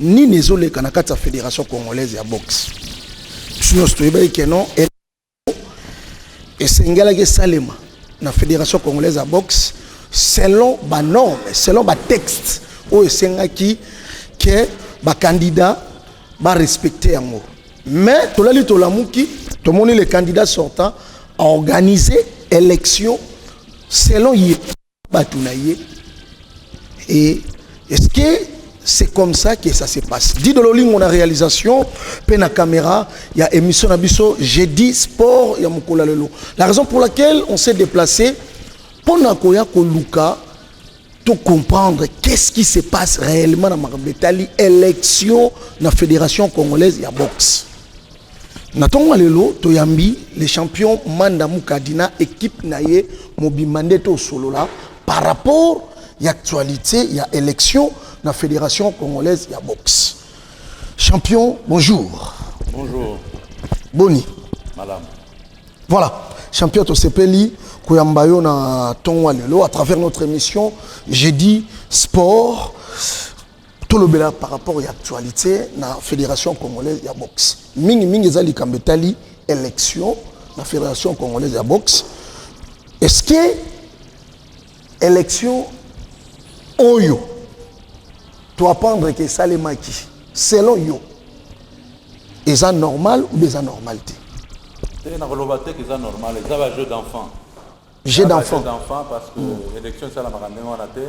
Nini ezo leka na kati ya Federation Congolaise ya Boxe? Biso nyonso toyebaki que non esengelaki esalema na Federation Congolaise ya Boxe selon ba normes, selon ba textes oyo esengaki que ba candidats ba respecter yango. Mais tolali tolamuki tomoni le candidat sortant organiser élection selon ye bato na ye et est ce que c'est comme ça que ça se passe dit de lolingo na réalisation pe na caméra il y a émission na biso j'ai dit sport ya mukula lelo la raison pour laquelle on s'est déplacé pour na koya ko luka tout comprendre qu'est-ce qui se passe réellement na makabetali élection na fédération congolaise ya boxe Na tongo lelo toyambi le champion Manda Mukadi na equipe na ye mobimba nde tosolola par rapport ya actualité ya élection na Fédération congolaise ya boxe. Champion, bonjour. Bonjour. Boni. Madame. Voilà, champion tosepeli koyamba yo na tongo lelo à travers notre émission Jeudi Sport. tolobela par rapport ya actualité na fédération congolaise ya boxe mingi mingi eza likambo etali élection na fédération congolaise ya boxe est ce que élection oyo toapprendre ke esalemaki selon yo eza normal ou eza normal te te nakoloba te ke eza normal eza ba jeu d'enfant jeu d'enfant parce que mm. élection esalamaka ndenge wana te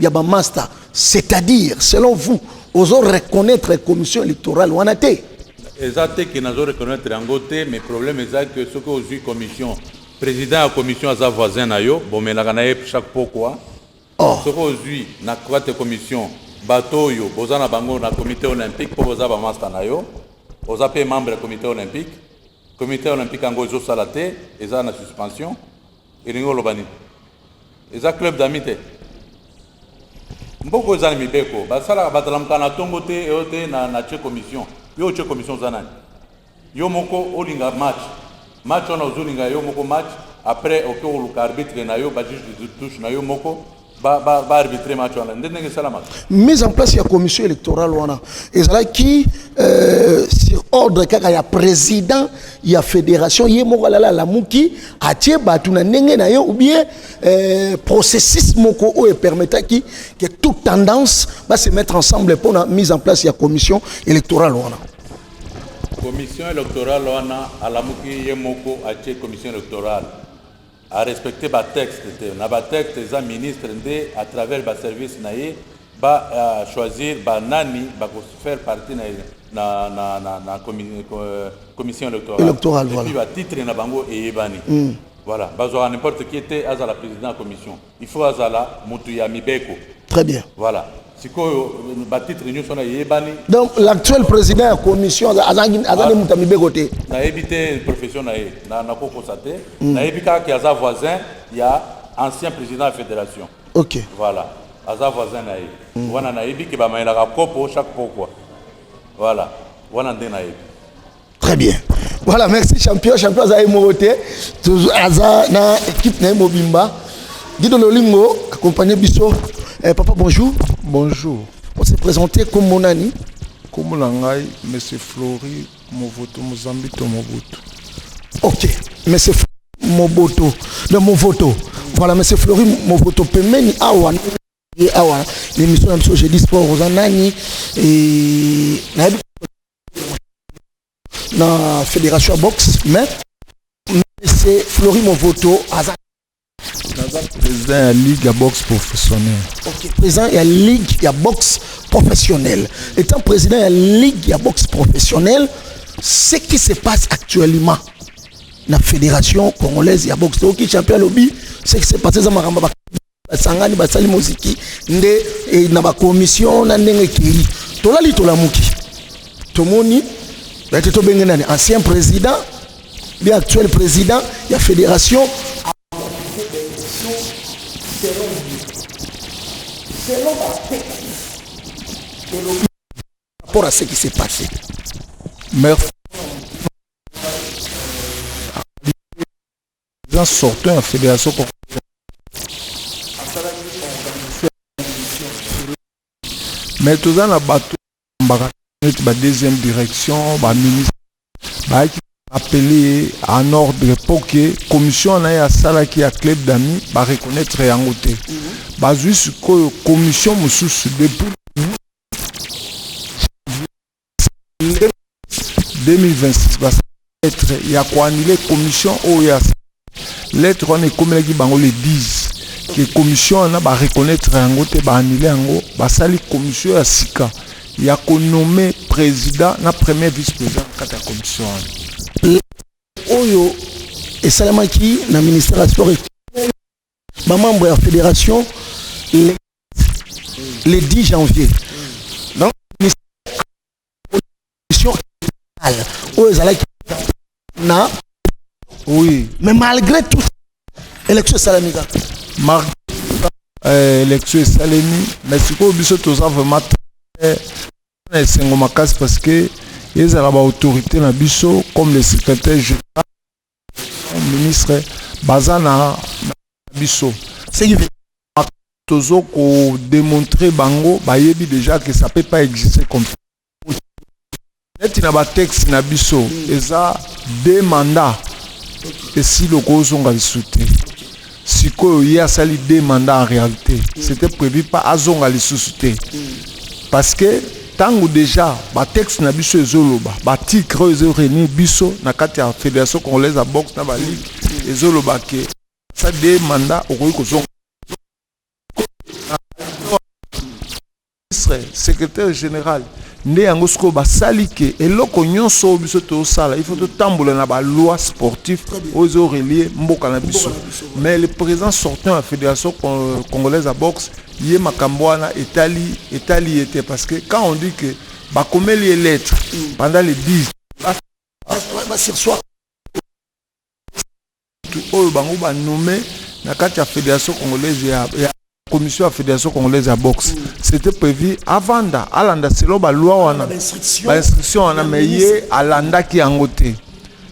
ya ba masta c'est-à-dire selon vous ozo reconnaître commission électorale wana te eza te ke nazo reconnaître yango te mais problème eza ke soki ozwi commission président ya commission aza voisin na yo bomelaka na ye chaque pokwa oh. soki ozwi na quate commission bato oyo boza na bango na comité olympique mpo boza bamasta na yo oza mpe membre ya comité olympique comité olympique yango ezosala te eza na suspension Elingi oloba nini? Eza club d'amis te. Mboko eza na mibeko. Basalaka batalamka na tongo te eyo te na na che commission. Yo che commission za nani? Yo moko olinga match. Match wana ozolinga yo moko match après oke oluka arbitre na yo ba juge de touche na yo moko ba ba ba arbitrer match wana nde ndenge esalamaka mise en place ya commission électorale wana ezalaki euh, sur ordre kaka ya président ya fédération ye moko alala alamuki atie bato na ndenge na ye ou bien euh, processus moko oyo epermetaki que toute tendance va se mettre ensemble mpona mise en place ya commission électorale wana commission électorale wana alamuki ye moko atie commission électorale a respecter ba texte te na ba texte eza ministre nde à travers ba service na ye ba uh, choisir ba nani ba ko faire partie na na na na, na commi, euh, commission électorale Electoral, et voilà. puis ba titre na bango eyebani mm. voilà bazwaka n'importe qui te azala président ya commission Il faut azala mutu ya mibeko. Très bien. Voilà. sikoyo batitre nyonso wana eyebani donc l'actuel président ya commission azali ah. moto ya mibeko te nayebi te profession na ye nakokosa te hmm. nayebi kaka ke aza voisin ya ancien président ya fédération ok voilà aza voisin na ye hmm. wana nayebi ke bamayelaka kopo chaque pokwa voilà wana nde nayebi Très bien. Voilà, merci champion. Champion aza moko te. Aza na équipe na mobimba. Guido Lolingo accompagné biso. Eh, papa bonjour. Bonjour. On s'est présenté comme Monani. Comme Monangai, monsieur Flori Movoto Mozambito Mobutu. OK. Monsieur Flori Moboto, de Movoto. Voilà, monsieur Flori Movoto pemeni awa awa l'émission na biso jeudi sport oza nani et na fédération ya boxe mais mese flori movoto aza naza président ya ligue ya boxe professionnel ok président ya ligue ya boxe professionnel étant président ya ligue ya boxe professionnel ce qui se passe actuellement na fédération congolaise ya boxe toyoki champion alobi ce qui se passe eza makambo basangani basali moziki nde e, na bakomisio na ndenge ekei tolali tolamuki tomoni ete tobenge nani ancien président bi actuel président ya fédération rapport à ce qui s'est passé merci President sortant ya federation congolaise asalaki organiser emission na tele mais toza na bato bambaka neti ba deuxième direction ba ministre bayaki appeler ye en ordre mpo ke commission na ye asalaki ya club d'amis ba reconnaître yango te bazwi sikoyo commission mosusu depuis 2026 ba lettre ya ko annuler commission oyo ya lettre wana ekomelaki bango le 10 que commission wana ba reconnaître yango te ba annuler yango basali commission ya sika ya ko nommer président na premier vice président na kati ya commission wana oyo esalamaki na ministère ya sport Ba membres ya federation le, le 10 janvier donc mission oyo ezalaki na oui mais malgré tout élection esalami kaka malgré euh, élection esalemi mais sikoyo biso toza vraiment na esengo makasi parce que ezala baautorité na biso comme le secrétaire général ministre baza na biso tozo ko demontrer bango bayebi deja que ça peut pas exister comme ça neti na batexte na biso eza de mandat esili okozonga lisusu te Sikoyo ye asali deux mandats en realite c'etait prevu pas azonga lisusu te parce que tango dejà ba texte na biso ezoloba ba titre oyo ezo renir biso na kati ya federation congolaise ya boxe na ba ligue ezoloba ke sa deux mandats okoki kozonga ministre secretaire general nde yango sikoyo basali ke eloko nyonso oyo biso tosala il faut totambola na baloi sportif oyo ezo relie mboka na biso mais le président sortant ya fédération congolaise ya boxe ye makambo wana etali etali ye te parce que quand on dit que bakomeli ye lettre mm. pendant les 10 basirsoir Batu oyo bango ba nomme na kati ya federation congolaise ya, ya commission ya federation congolaise ya boxe c'était prevu avanda alanda selon ba loi wana ba instruction wana mais ye alandaki yango te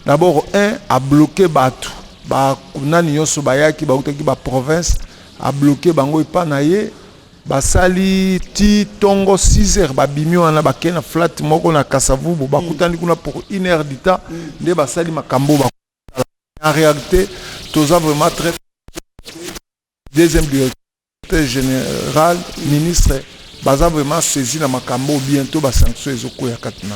d'abord un a bloquer batu ba nani nyonso bayaki bautaki ba province a bloquer bango epa na ye Basali ti tongo six heures babimi wana bake na flat moko na Kasa-Vubu bakutani kuna pour une heure du temps nde basali makambo oyo bakoki kosala. Mais en realite toza vraiment très felicite que deuxième directeur, secretaire general, ministre baza vraiment saisi na makambo oyo. Bientot ba sanctions ezokueya kati na.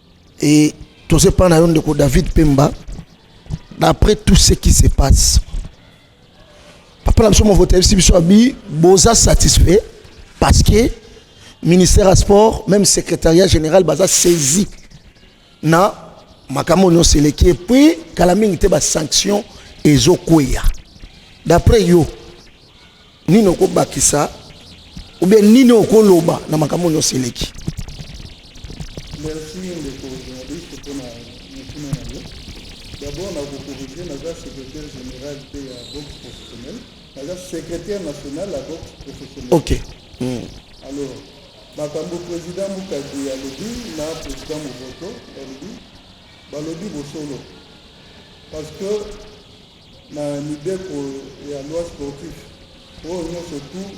Et toza epai na yo ndeko David Pemba, d'après tout ce qui se passe, papa na biso movoto ayebisi biso abi boza satisfait parce que ministère ya sport même secrétariat général baza saisi na makambo nyonso eleki epuis kala mingi te basanction ezokweya d'après yo Nini okobakisa ou bien nini okoloba na makambo nyonso eleki? Merci ndeko journaliste mpo na motuna na yo. D'abord na kokorige naza secrétaire général mpe ya boxe professionnel, naza secrétaire national ya boxe professionnel. Ok. Mm. Alors makambo président Mukadi alobi na président Movoto alobi balobi bosolo parce que Na mibeko ya loi sportif oyo nionso tout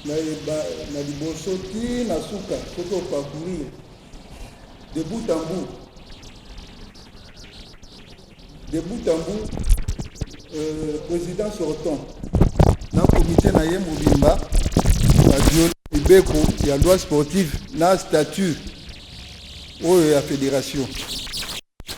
na liboso ti na suka soki o parcourir de bout en bout de bout en bout president sortant na comite na ye mobimba ba violer mibeko ya loi sportive na statut oyo ya federation.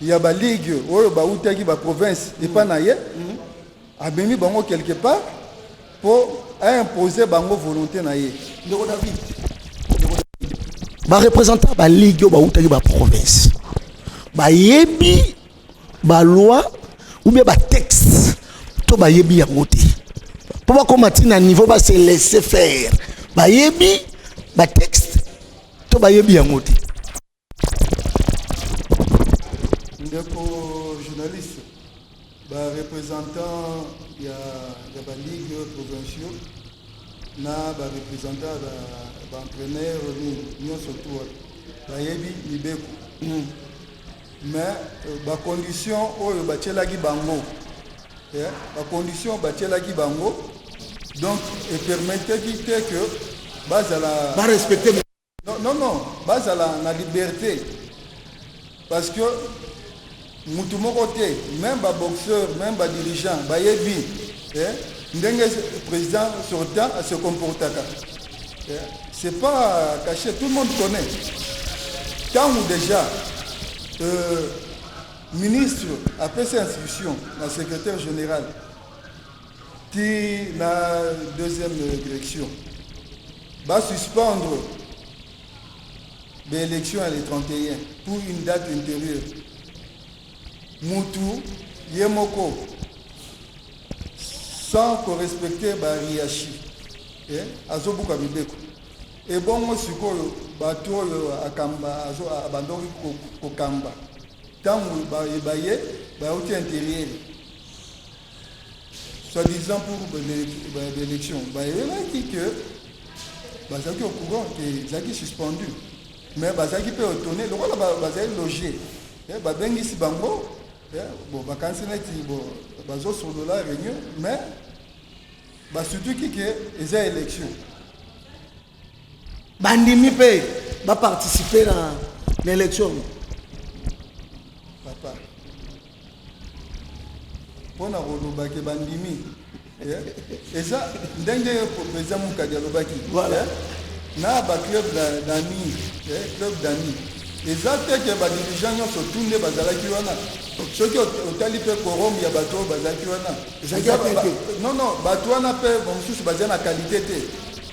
ya ba ligue oyo bautaki ba province epa na ye amemi bango quelque part mpo aimpose bango volonté na ye ndeko david barepresentant ba ligue oyo bautaki ba province bayebi baloi ou bien batexte to bayebi yango te mpo bakóma ti na niveau base laisse faire bayebi batexte to bayebi yango te Ndeko journaliste, ba representants ya, ya ba ligues provinciaux na ba representants ba, ba entraîneurs nini nyonso tu wana bayebi mibeko mm. mais euh, ba conditions oyo batielaki bango eh, ba conditions batielaki bango donc epermetaki te que bazala barespecte Non non non bazala na liberte parce que mutu moko te même ba boxeur même ba dirigeant bayebi eh, ndenge président sortant se comportaka eh, c'est pas caché tout le monde connaît ntango déjà euh, ministre apesi instruction na secrétaire général ti na deuxième direction ba suspendre ba élection ya le 31 pour une date intérieure mutu ye moko sans korespecte bariashi eh? azobuka mibeko ebongo sikoyo bato oyo akamba abandaki kokamba ntango baye bayauti interiere soit disant pour l'élection bayebaki ke bazalaki au courant ke ezalaki suspendu mais bazalaki mpe otone lokola bazali loge eh, babengisi bango eh, bon bakanisi neti bon bazosolola réunion mais basutuki ke eza élection bandimi mpe baparticipe na, na election papa mpo na kolobake bandimi eh, eza ndenge eza mokadi alobaki eh, na baclub dami eh, club dami eza te ke badirigeant nyonso tu nde bazalaki wana soki otali mpe korom ya bato oyo bazalaki wana non non bato wana mpe bamosusu baza na kalite te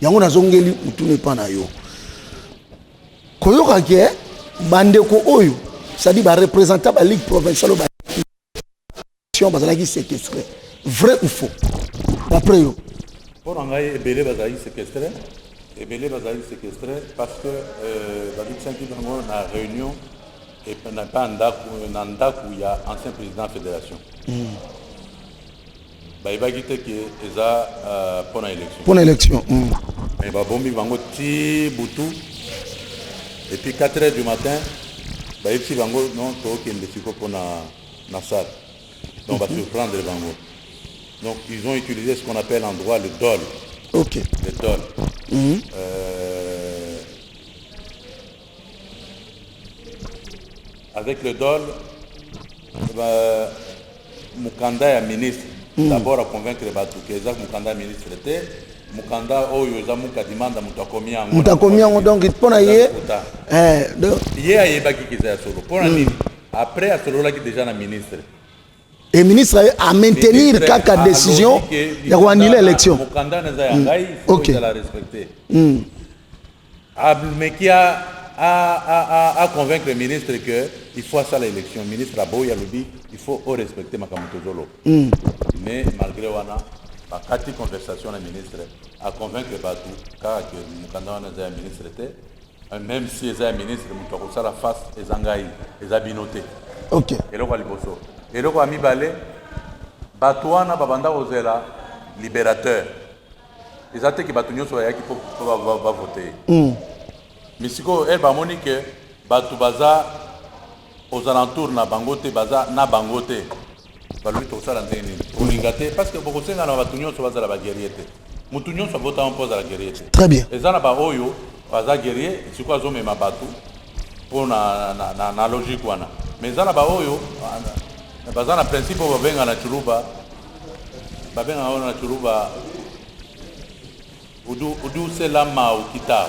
yango nazongeli motuna epa na yo koyoka ke bandeko oyo cestadi barepresenta baligue provincial oyo bazalaki séquestre vrai ou faux d'après yo mpo na ngai ebele bazalaki séquestre ebele bazalaki séquestre parce que euh, babikisaki bango na réunion epa na ndako ya ancien président fédération mm. Bayebaki te que eza euh, mpo na election. Mpo na election. Mm. Mais babombi bango ti butu et puis 4 heures du matin bayebisi bango non tokende siko mpo na na salle donc mm -hmm. basurprendre bango donc ils ont utilisé ce qu'on appelle en droit le dol ok le dol mm -hmm. euh, Avec le dol, euh, mukanda ya ministre mm. d'abord à convaincre les bateaux que Zach mukanda ministre était mukanda oyo eza muka dimanda moto akomi yango moto akomi yango donc mpo na ye eh, ye ayebaki kiza ya solo mpo na mm. nini après asololaki déjà na ministre et ministre a maintenir kaka décision ya koannule élection mokanda naza ya ngai mm. faut ezala respecte mm. Abumeki a a a a convaincre ministre que il faut asala election ministre aboyi alobi il faut o respecter makambo tozoloba mm. mais malgré wana bakati conversation na ministre aconvaincre bato kaka ke mokanda wana eza ya ministre te euh, même si eza ya ministre moto akosala face eza ngai eza bino te okay. eloko ya liboso eloko ya mibale bato wana babanda kozela libérateur eza te ke bato nyonso bayaki mpo bavote ye hmm. mais sikoyo ere eh, bamoni ke bato baza aux alentours na bango te baza na bango te balobi tokosala ndenge nini kolinga te parce que bokosenga na bato nyonso bazala baguerrier te moto nyonso avotama mpo azala guerrier te très bien eza na baoyo baza guerrier sikoyo azomema bato mpo na, na, na, na logique wana mais eza na baoyo baza na principe oyo babengana ciluba Babengaka wana na Tshuruba Udu Udu Sela Mau Kita.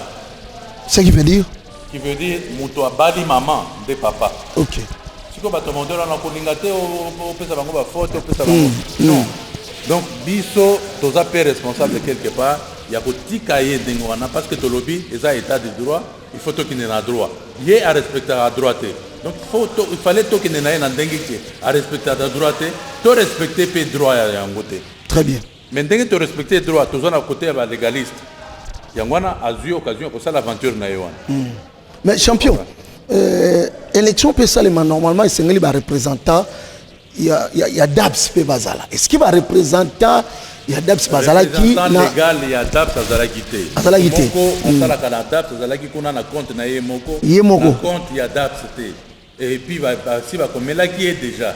Ce qui veut dire Qui veut dire moto abali maman nde papa. OK. Siko bato mondelo na kolinga te opesa bango ba faute opesa bango. Hmm, hmm. Non. Donc biso toza pe responsable quelque part ya kotika ye ndenge wana parce que tolobi eza état de droit Il faut tokende na droit. Ye a respectaka droit te. Donc il faut to, il fallait tokende na ye na ndenge ke a respectaka droit te, to respecter pe droit ya yango te. Très bien. Mais ndenge to respecter droit toza na côté ya ba légaliste. Yango wana azui occasion ya kosala aventure na ye wana. Mm. Mais champion, euh, élection pe salema normalement esengeli ba représentants ya, ya, ya daps mpe bazala eske barepresentant ya daps bazalaki legal ya daps azalaki te azalaki te moko hmm. asalaka na daps azalaki kuna na compte na ye moko ye moko compte ya daps te et puis basi bakomelaki ye déjà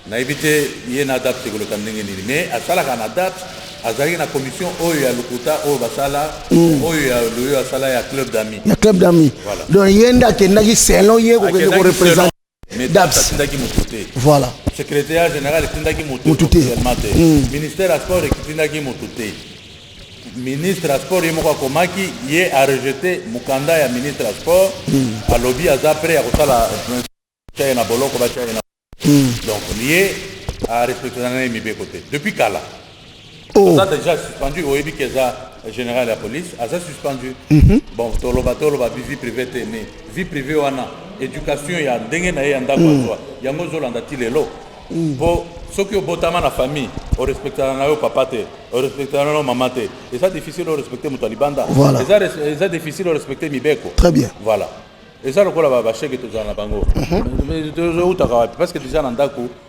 nayebi te ye na daps ekoleka ndenge nini mais asalaka na daps azalaki na commission oyo ya lokuta oyo basala mm. oyo ya loyo asala ya club d'amis ya club d'amis voilà. donc ye nde akendaki selon ye kokende korepresente dabsatindaki moto te voilà secrétaire général etindaki moto te hmm. ministère ya sport ekitindaki moto te ministre ya sport ye moko akomaki ye arejete mokanda ya ministre ya sport hmm. alobi aza prêt ya kosala tyaye na boloko batyaye na hmm. donc ye arespectana na ye mibeko te depuis kala Oh. aza déjà suspendu oyebi ke eza général ya police aza suspendu mhm. bon toloba toloba vie privé te mais vie privé wana éducation ya ndenge na ye ya ndako mm. azwa yango ozolanda ti lelo mm. po soki obotama na famille orespectaka na yo papa te orespectaka na yo mama te eza difficile orespecte moto ya libanda eza difficile orespecte mibeko très bien voilà eza lokola basheke tozala na bango mhm. tozoutaka wapi parce que deja na ndako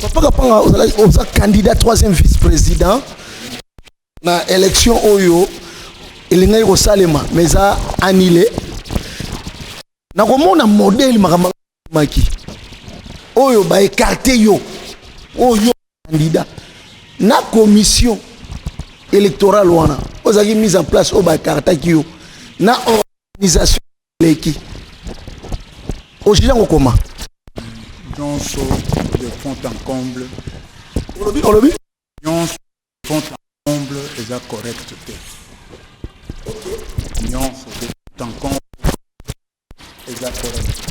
Papa Kapanga, oza candidat troisième vice-président na élection oyo elingaki kosalema mais eza annulé. Nakomona modèle makambo maki oyo ba écarté yo oyo candidat na commission électorale wana ozalaki mise en place oyo ba écartaki yo na organisation leki ojija kokoma nyonso de fond en comble olobi olobi nyonso de fond en comble eza correct te nyonso de fond en comble eza correct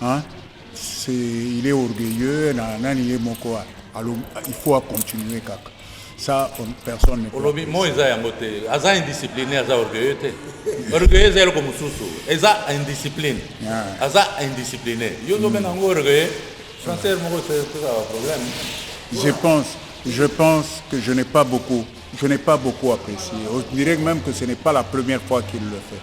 Hein? C'est il est orgueilleux na nani ye moko a- alo il faut a continuer kaka. Ça on, personne ne peut. olobi mo eza yango te aza indiscipline aza orgueilleux te orgueilleux eza eloko mosusu eza indiscipline Ah. aza indiscipline yo ozobenga yango orgueilleux français moko eza problème Je pense, je pense que je n'ai pas beaucoup, je n'ai pas beaucoup apprécié. On dirait même que ce n'est pas la première fois qu'il le fait.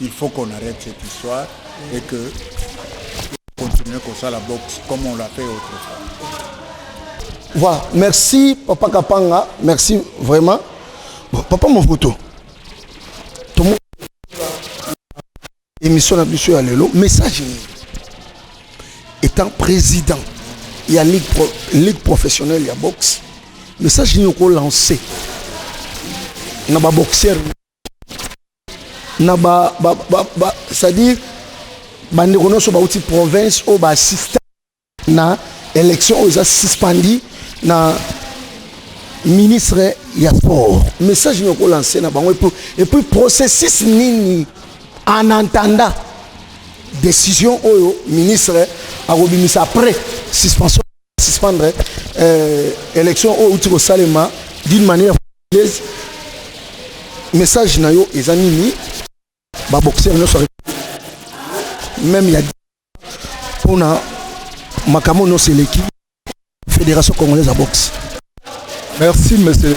Il faut qu'on arrête cette histoire et que continuer comme ça la boxe comme on l'a fait autrefois. Voilà, merci Papa Kapanga, merci vraiment. Bon, papa Movoto, tout le monde émission na biso ya lelo message nini étant président ya ligue, pro, ligue professionnelle ya boxe message nini okolancer na baboxeur na ba, ba, ba, ba c'est-à-dire bandeko nyonso bauti province oyo baassista na élection oyo eza suspendi na ministre ya sport message nini okolanse na bango epuis epuis processus nini en entendant décision oyo ministre akobimisa après suspension suspendre eh, election oyo outi kosalema d'une manière frauduleuse message na yo eza nini baboxeur nyonso meme ya mpona makambo nyonso eleki fédération congolaise ya boxe merci monsieur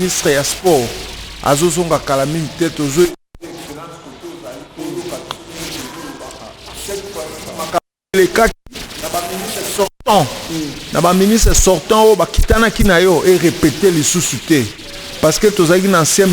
Ministre ya sport azo zonga kala mingi te tozo ecoute excellence kote ozali toyoka tout oyo olobaka cette fois ci makambo elekaki na ba ministre sortant na ba ministre sortant oyo bakitanaki na yo e repeter lisusu te parce que tozalaki na ancien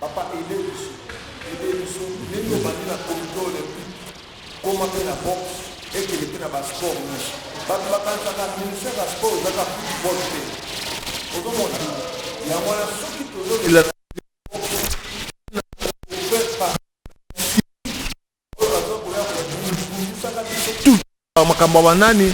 Papa aide biso aide biso ndenge obandi na comite olympique koma mpe na boxe ekende mpe na ba sport nyonso bato bakanisaka ministère ya sport eza ka football te ozomona yango wana soki tozolaa makambo ya banani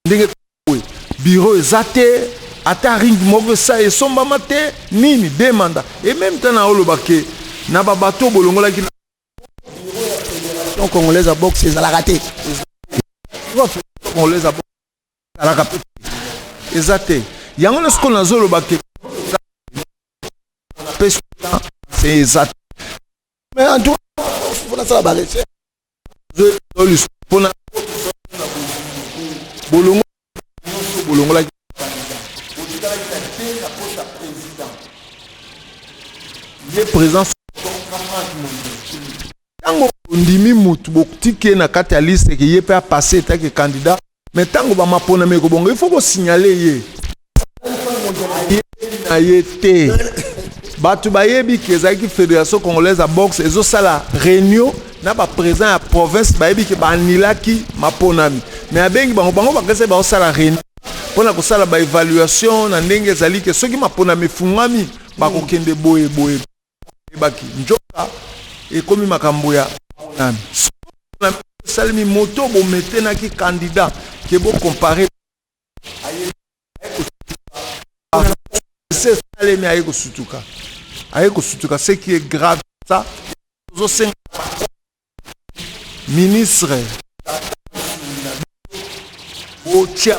ndenge boye biro eza te ata ring moko esa esombama te nini de manda e meme temps na oloba ke na babato bolongolaki na donc congolaise ya boxe ezalaka te congolaise ya boxe ezalaka pe eza te yango na sikoyo nazoloba ke eza te mais en tout cas faut na sala ba recherche je dois pour na bolongo bolongo la ye présence ntango ondimi motu botiki ye na kati ya liste ke ye mpe apase etake candidat me ntango bamaponami ekobonga ifo kosignale ye na ye te bato bayebi ke ezalaki fédération congolaise ya boxe ezosala réunion na baprésident ya province bayebi ke baanilaki maponami me abengi bango bango bakesa baosala réunion mpo na kosala baévaluation na ndenge ezali ke soki maponami efungwami bakokende boye boye ayebaki nzoka ekomi makambo ya maponami sikoyo maponami oyo esalemi moto bo maintenaki candidat que bo comparer bango aye kosutuka ba esi esalemi aye kosutuka aye kosutuka ce qui est grave c'est ça tozo senga na ba ministre botia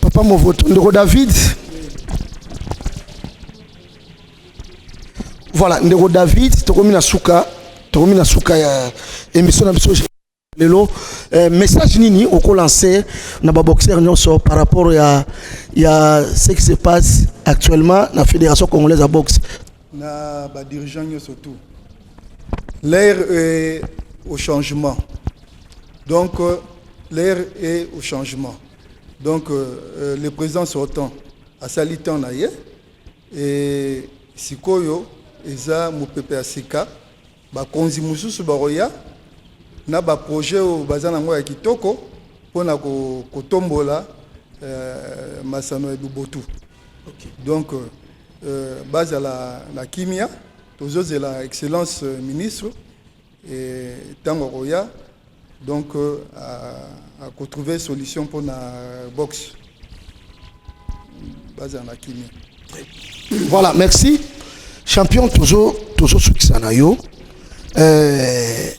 papa movoto ndeko david voilà ndeko david tokomi na suka tokomi na suka ya émission na biso lelo eh, message nini okolanse na baboxeur nyonso par rapport ya, ya ce qui se passe actuellement na fédération congolaise ya boxe na ba dirigeants nyoso tout l'air est au changement donc euh, l'air est au changement donc euh, euh, le président sortant asali temps na ye e sikoyo eza mopepe ya sika Bakonzi mosusu bakoya na ba projets oyo baza nango ya kitoko mpo na kotombola euh, masano ya bobotu okay. donc euh, bazala na kimia tozozela excellence euh, ministre ntango akoya donc euh, à, à trouver solution pour la boxe base en akimi voilà merci champion toujours toujours ce qui s'en a yo euh,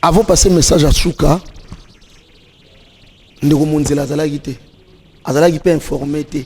avant passer message à Souka ndeko monzela azalaki te azalaki mpe informe te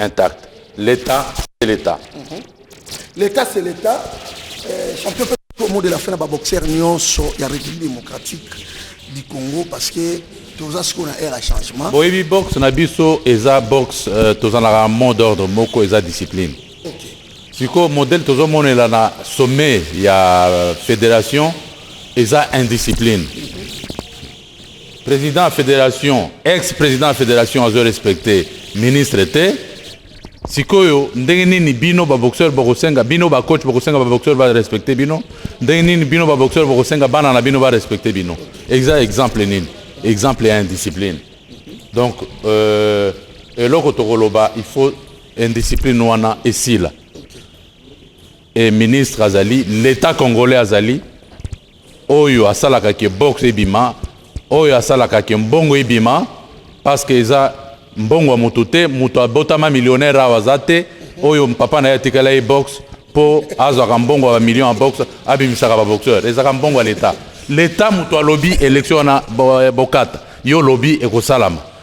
intact l'état c'est l'état mhm. l'état c'est l'état euh, champion au mot de la fin na baboxeur nyonso ya république démocratique du congo parce que toza sikoyo na aire ya changement boyebi boxe na biso eza boxe euh, tozalaka mot d'ordre moko eza discipline sikoyo modèle tozomonela na sommet ya euh, fédération eza indiscipline President ya federation, ex president ya federation azo respecter ministre te. Sikoyo ndenge nini bino ba boxeur bokosenga bino ba coach bokosenga ba boxeur ba respecter bino? Ndenge nini bino ba boxeur bokosenga bana na bino ba respecter bino? Exa exemple nini? Exemple ya indiscipline. Donc euh, eloko tokoloba il faut indiscipline wana esila. Et ministre azali l'etat congolais azali oyo asalaka ke boxe ebima oyo asalaka ke mbongo ebima parce que eza mbongo ya moto te moto abotama millionnaire awa aza te oyo papa na ye atikala ye boxe mpo azwaka mbongo ya bamillion ya boxe abimisaka baboxeur ezalaka mbongo ya leta leta moto alobi elektio wana bokata yo olobi ekosalama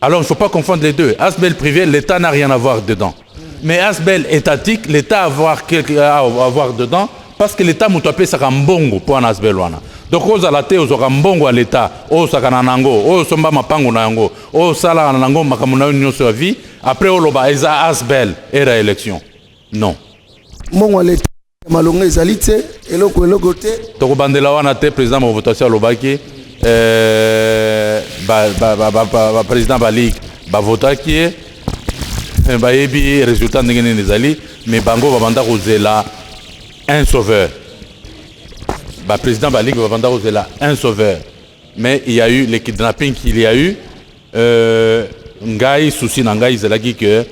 Alors il ne faut pas confondre les deux. Asbel privé, l'État n'a rien à voir dedans. Mais Asbel étatique, l'État a avoir quelque à avoir dedans parce que l'État mutu apesaka mbongo mpo wana Asbel wana. Donc ozala te ozwaka mbongo ya l'État, osakana na yango, osomba mapango na yango, osalaka na yango makambo na yo nyonso ya vie, après oloba eza Asbel era élection. Non. Mbongo ya l'État malonga ezali te eloko eloko te tokobandela wana te président movotation alobaki baprésident ba ligue bavotaki ye eh, bayebi résultat ndenge nini ezali mais bango babanda kozela un sauveur baprésident ba ligue babanda kozela un sauveur mais il y a eu le kidnapping qu'il y a eu euh, ngai souci na ngai ezalaki que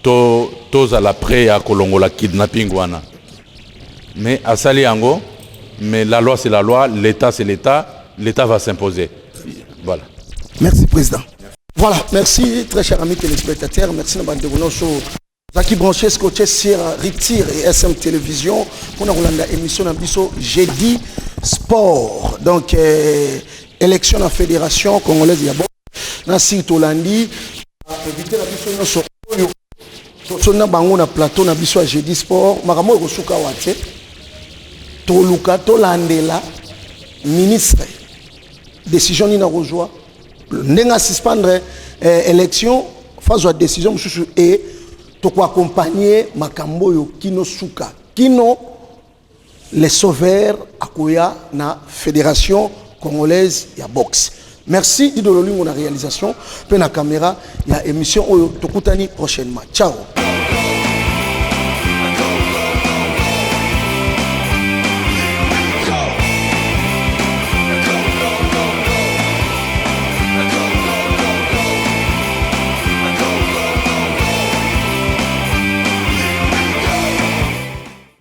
To tozala pret ya kolongola kidnapping wana mais asali yango mais la loi c'est la loi l'etat c'est l'etat l'etat va s'imposer voilà merci président voilà merci très cher ami téléspectateur merci na bandeko nyonso ozalaki branche scotche sur ritir et sm télévision mpona kolanda émission na biso jeudi sport donc euh, élection na fédération congolaise ya na sire tolandi invité na biso nyonso oyo tosoni na bango na plateau na biso ya jeudi sport makambo oyo ekosuka awa te toluka tolandela ministre décision nini akozwa ndenge asuspendre eh, élection fazwa décision mosusu e tokoaccompagne makambo oyo kino suka kino Le Sauveur akoya na Federation Congolaise ya boxe. Merci Dido Lolingo na réalisation pe na caméra ya émission oyo tokutani prochainement. Ciao.